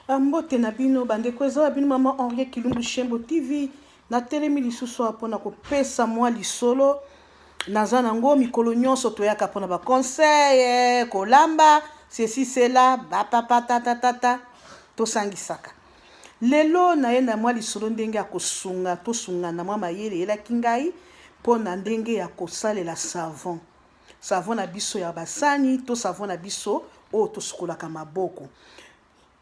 Ah, mbote na bino bandeko eza ya bino mama henriet kilumbu shembo tv natelemi lisusu awa mpona kopesa mwa lisolo naza nango mikolo nyonso toyaka mpona baconseil eh, kolamba sesi sela bapapa tatatata tosangisaka lelo naye na mwa lisolo ndenge ya kosunga tosungana mwa mayele eyelaki ngai mpo na ndenge ya kosalela savon Savon na biso ya basani to savon na biso oyo tosukolaka maboko.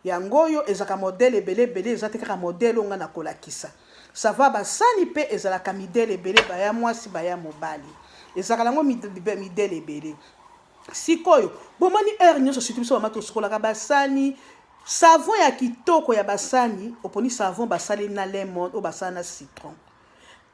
Yango oyo ezalaka modele ebele ebele, eza te kaka modele oyo ngai nakolakisa. Savon ya basani mpe ezalaka midele ebele, baya mwasi, baya mobali. Ezalaka nango midele ebele. Sikoyo, bomoni heure nyonso surtout biso bamama tosukolaka basani, savon ya kitoko ya basani, oponi savon basali na lemon oyo basala na citron.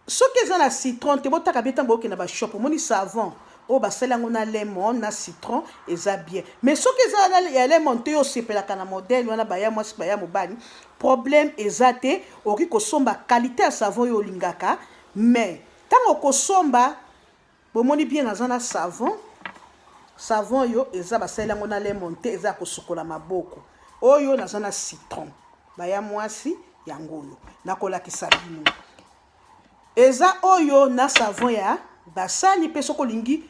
Soki eza na citron te botaka bien tango bokenda ba shop omoni savon oyo basali yango na lemon na citron eza bien mais soki eza na ya lemon te yo osepelaka na modèle wana baya mwasi baya mobali problème eza te okoki kosomba qualité ya savon oyo olingaka mais ntango okosomba Bomoni bien naza na savon. Savon oyo eza basalela yango na lemon te eza ya kosukola maboko. Oyo naza na citron. Baya mwasi yango oyo nakolakisa bino. Eza oyo na savon ya basani mpe soki olingi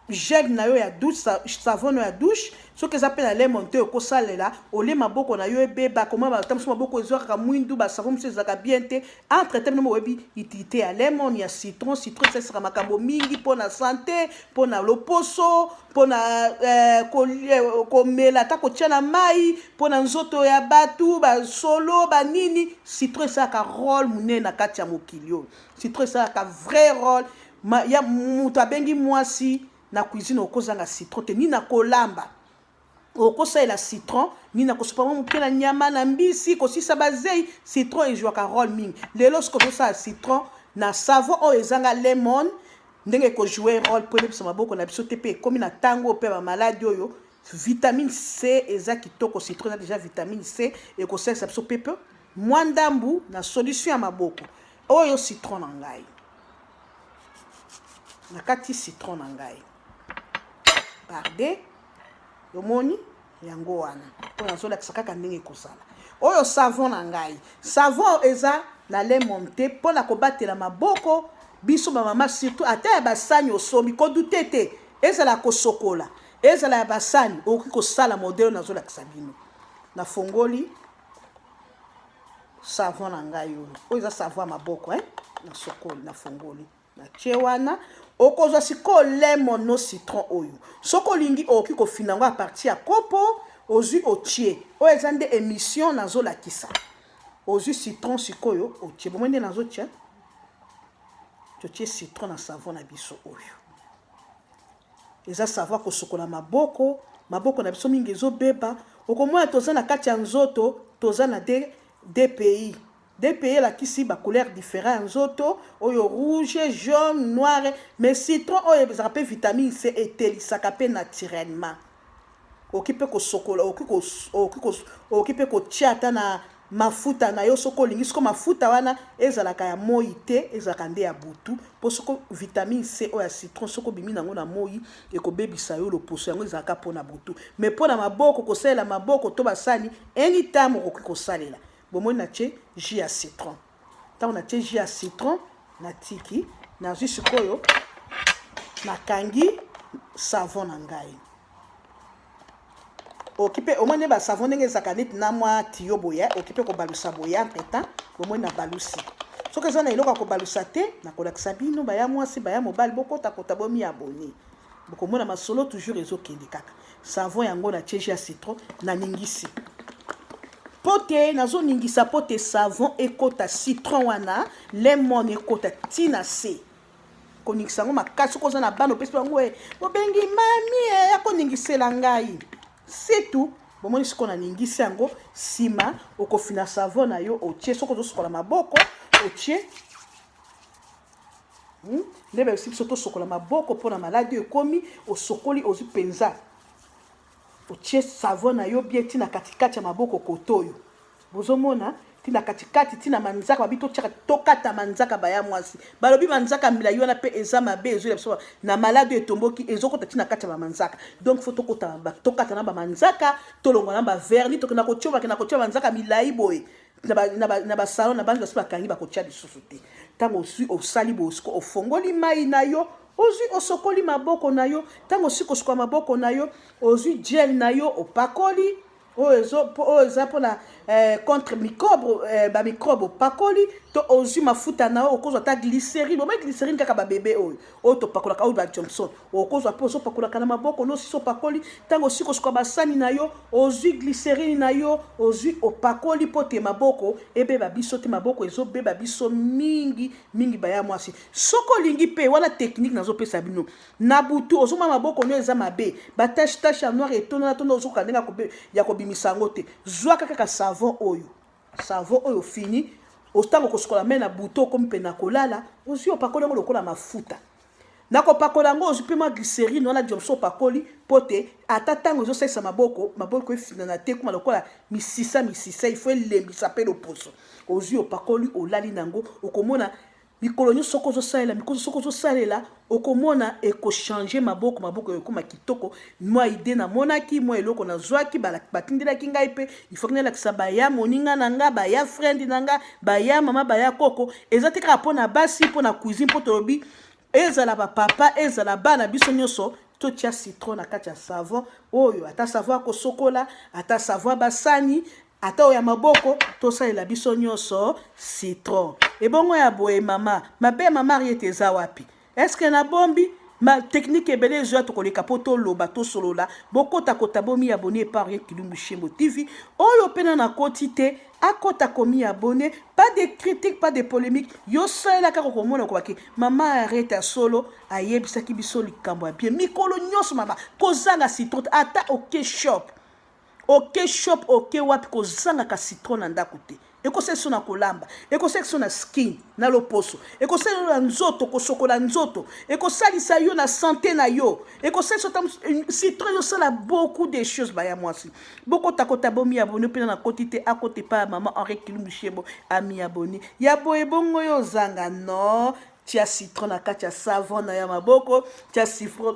gel na yo ya douche savon ya douche soki eza mpe na lemon te okosalela olie maboko na yo ebeba koma batambwisi maboko ezwakaka mwindu basavon mosusu ezalaka bien te entre te bino boyebi utilité ya lemon ya citron citron esalisaka makambo mingi mpo na sante mpo na loposo mpo na eh, eh, komela ata kotya na mai mpo na nzoto ya bato basolo banini citron esalaka role monene na kati ya mokili oyo citron esalaka vrai role ya moto abengi mwasi na cuisine okozanga citron te nini akolamba okosalela citron nini na kosopa mwa moke na nyama na mbisi kosisa bazei citron ejwaka role mingi lelo soki ozosala citron na savon oyo ezanga lemon ndenge ekojoue role mpo ebebisa maboko na biso te mpe ekomi na ntango oyo mpe bamaladi oyo vitamine c eza kitoko citron eza deja vitamine c ekosalisa biso mpe mpe mwa ndambu na solution ya maboko oyo citron na ngai nakati citron na ngai parde omoni yango wana mpo nazolakisa kaka ndenge ekosala oyo savon na ngai savon eza na lemon te mpo na kobatela maboko biso bamama surtout ata ya basani osombi kodute te ezala kosokola ezala ya basani okoki kosala modele nazolakisa bino nafongoli savon na ngai oyo oyo eza savon ya maboko eh? nasokoli nafongoli natie wana okozwa sikoyo lemon no citron oyo soki olingi okoki kofina yango a partir ya kopo ozwi otie oyo eza nde emission nazolakisa ozwi citron sikoyo otie bomoi nde nazotia totie citron na savon na biso oyo eza savon kosukola maboko maboko na biso mingi ezobeba okomona toza na kati ya nzoto toza na de dpi DPI elakisi ba couleurs differents ya nzoto oyo rouge, jaune, noire mais citron oyo ezalaka pe vitamine C etelisaka pe naturellement. Okoki pe kosokola, okoki ko okoki ko okoki pe kotia ata na mafuta na yo soki olingi soko mafuta wana ezalaka ya moi te ezalaka nde ya butu mpo soko vitamine c oyo ya citron soki obimi nango na moi ekobebisa yo loposo yango ezalaka mpo na butu mai mpo na maboko kosalela maboko to basani anytime okoki kosalela Bomoni na tie jus ya citron. Tango na tie jus ya citron, na tiki, na zui sikoyo na kangi savon na ngai. Okipe au moins ne ba savon ndenge ezaka nit na mwa tiyo boya, okipe ko balusa boya entre temps, bomoni na balusi. Soki eza na eloko ya kobalusa te, nakolakisa bino baya mwasi baya mobali bokota kota bomi abonner. bokomona masolo toujours ezokende kaka Savon yango na tie jus ya citron na ningisi. Pote nazo ningisa pote savon ekota citron wana lemon ekota tina se. Koningisa yango makasi ko na bano pesi bango e bobengi mami e ya koningisela ngai. C'est tout. Bomoni siko na ningisi yango sima okofina savon na yo otie soko ozosukola maboko otie Hmm? nde bayebisi biso tosokola maboko mpo na maladi oyo ekomi osokoli ozwi mpenza otie savon na yo bie ntina katikati ya maboko koto oyo bozomona ntina katikati ntina manzaka babi totiaka tokata manzaka baya mwasi balobi manzaka milai wana mpe eza mabe ezwela biso na maladi oyo etomboki ezokota ntina kati ya bamanzaka donc fo tokata na bamanzaka tolongwa na baverni tokenda kotyobakenda kotya manzaka milai boye na basalon na bangi basi bakangi bakotya lisusu te ntango oswi osali bosiko ofongoli mai na yo ozwi osokoli maboko na yo ntango osi kosuka maboko na yo ozwi gel na yo opakoli oyo eza mpona eh, contre microbe eh, bamicrobe opakoli to ozwi mafuta na yo okozwa ata glycerine omai glycerine kaka babebe oyo oyo topakolaka oyo ba Johnson okozwa mpe ozopakolaka na maboko no osisi opakoli ntango osiko kosuka basani na yo ozwi gliserine na yo ozwi opakoli mpo te maboko ebeba biso te maboko ezobeba biso mingi mingi baya mwasi soki olingi mpe wana teknike nazopesa bino na butu ozomona maboko no eza mabe batache tache ya noire etonana tona ozokoka ndenge ya kobimisa yango te zwaka kaka savon oyo Savon oyo ofini, otango kosukola mai na butu okomi mpe na kolala, ozwi opakoli yango lokola mafuta. Na kopakola yango ozwi mpe mwa glycerine wana diomso opakoli mpo te ata ntango ezosalisa maboko, maboko efinana te ekoma lokola misisa misisa, il faut elembisa mpe loposo. Ozwi opakoli olali na yango, okomona Mikolo nyoso soki ozo salela mikolo soki ozo salela okomona eko changer maboko maboko ekoma kitoko mwa idee na monaki mwa eloko na zwaki batindelaki ngai mpe ifoki nalakisa baya moninga na nga baya friend na nga baya mama baya koko eza te kaka mpo na basi mpo na cuisine mpo tolobi ezala bapapa ezala bana biso nyonso totia citron na kati ya savon oyo ata savon ya kosokola ata savon ya basani ata oyo ya maboko tosalela biso nyonso citron ebongo ya boye mama mabe ya mama ariete eza wapi eske nabombi ma technique ebele ezo ya tokoleka mpo toloba tosolola bokota kota bomi ya boni epa ariete kilumbu shembo tv oyo mpe na nakoti te akota komi abone pas de critique pas de polémique yo salela kaka okomona okobaki mama arete ya solo ayebisaki biso likambo ya bien mikolo nyonso mama kozanga citrote ata oke shop Oke shop oke wapi kozanga ka citron na ndaku te ekosalisa na kolamba ekosalisa na skin na loposo ekosalisa na nzoto kosokola nzoto ekosalisa yo na sante na yo ekosalisa ta citron yosala beaucoup de choses baya mwasi bokotakota bomi abone mpena na koti te akota epai ya mama henri kilumbu shebo ami abone ya boye bongo yo ozanga no tia citron na kati ya savon na ya maboko tia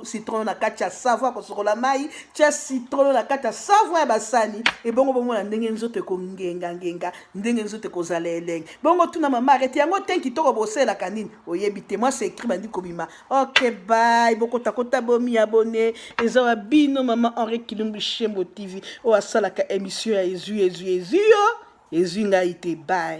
citron na kati ya savon ya kosokola mai tia citron na kati ya savon ya basani ebongo bomona ndenge nzoto ekongengangenga ndenge nzoto ekozala elenge bongo tuna mama arete yango te kitoko bosalelaka nini oyebi te mwa sekri bandi kobima ok bay bokotakota bomi abone eza wa bino mama henri kilumbu shembo tv oyo asalaka emission ya ezwi ezwi ezwi yo ezwi ngai te bay